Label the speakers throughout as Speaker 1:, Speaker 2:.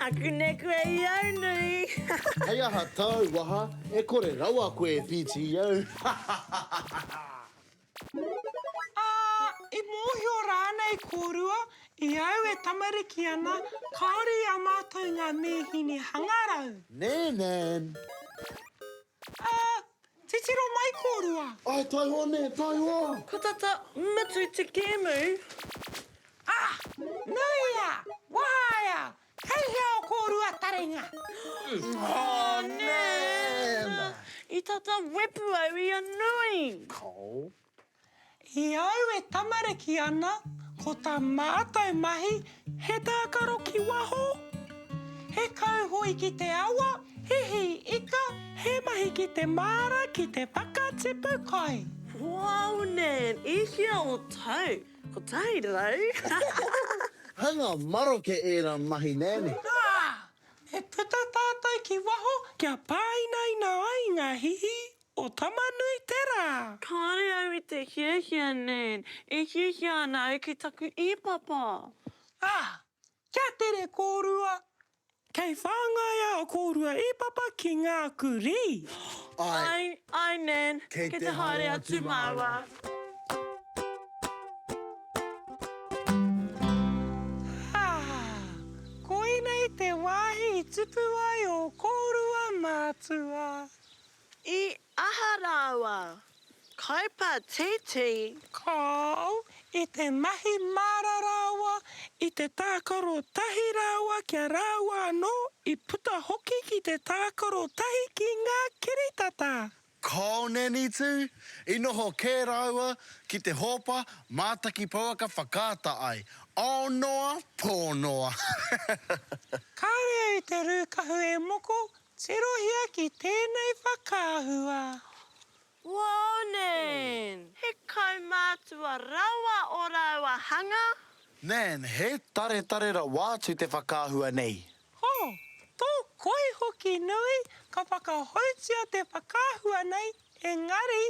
Speaker 1: Aku neku e iau nui. Hei aha
Speaker 2: tau waha e kore rawa koe e whiti iau.
Speaker 3: Ā, i mōhio rānei kōrua, i au e tamariki ana, kāore i a mātou ngā mīhini hangarau. Nēnēn! Ā, titiro mai kōrua. Āe, taihoa nē,
Speaker 2: taihoa! Ka tata
Speaker 1: mutu te kēmu. Ā,
Speaker 3: nuia, wahaia, kei hea o kōrua taringa? Ā,
Speaker 1: nē! I tata wepu au i a Nui. Kao.
Speaker 2: E
Speaker 3: au e tamariki ana, ko tā mātou mahi he tākaro ki waho, he kauhoe ki te awa, he hī ika, he mahi ki te māra ki te whakatipu kai. Waunen!
Speaker 1: I hea o tau? Kotahi rau?
Speaker 2: Hanga maroke ērā mahi nēni. Nā! E
Speaker 3: puta tātou ki waho kia pāinaina ai ngā hihi O Tama-nui-te-rā! Kāre au i te
Speaker 1: hiahia nei. E hiahia ana au ki taku ī-papa. Ā,
Speaker 3: kia tere kōrua! Kei whāngai a kōrua ī-papa ki ngā kurī. Āe. Āe,
Speaker 1: āe Nan, kei te haere
Speaker 2: atu
Speaker 1: māua.
Speaker 3: Ā, koinei te wāhi i tupu ai ō kōrua mātua. I
Speaker 1: aha rāua? Kaupā tītī. Call
Speaker 3: i te mahi māra rāua, i te tākaro tahi rāua kia rāua anō i puta hoki ki te tākaro tahi ki ngā kiritata. Call
Speaker 2: nanny tū, i noho kē rāua ki te hōpa mātaki pouaka whakaata ai. Aonoa, pōnoa.
Speaker 3: Kāre i te rūkahu e moko, Tirohia ki tēnei whakaahua.
Speaker 1: Warning! He kaumātua rawa ō rāua hanga. Man,
Speaker 2: he taretare rawa atu te whakaahua nei. Oh, tō
Speaker 3: koi hoki nui, ka whakahoutia te whakaahua nei, engari,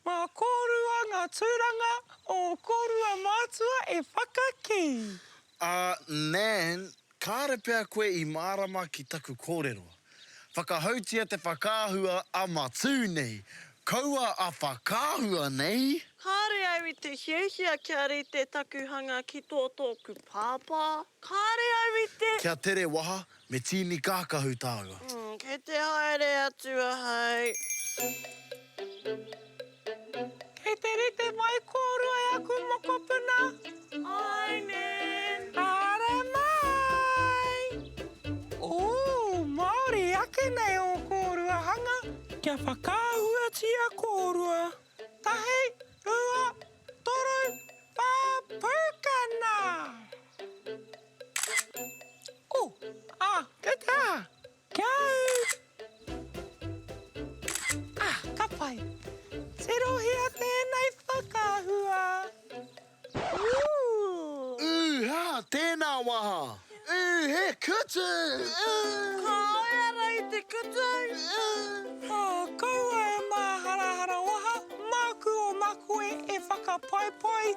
Speaker 3: mā kōrua ngā tūranga o kōrua mātua e whakakī. Ā,
Speaker 2: Man, Kāre pea koe i mārama ki taku kōrero. Whakahoutia te whakaahua a Matū nei. Kaua a whakaahua nei! Kāre au i te
Speaker 1: hiahia kia rite taku hanga ki tō tōku pāpā. Kāre au i te. Kia tere waha,
Speaker 2: me tīni kākahu tāua. Kei te haere
Speaker 1: atu ahau.
Speaker 3: Kei te rite mai kōrua e aku mokopuna.
Speaker 1: Ainen! Haere
Speaker 3: mai! Ooh, Māori ake nei ō kōrua hanga. Kia whakaahuatia kōrua. Tahi, rua, toru, whā, pūkana! Ooh, ah, kei te aha? Kia au! Ah, ka pai! Tirohia tēnei whakaahua! Ooh! Ooh,
Speaker 2: ha! Tēnā waha! Ooh, he kutu! Ooh! Ka
Speaker 1: aea rā i te kutu! Ooh! Oh, kaua
Speaker 3: e māharahara waha, māku o Makoe e whakapaipai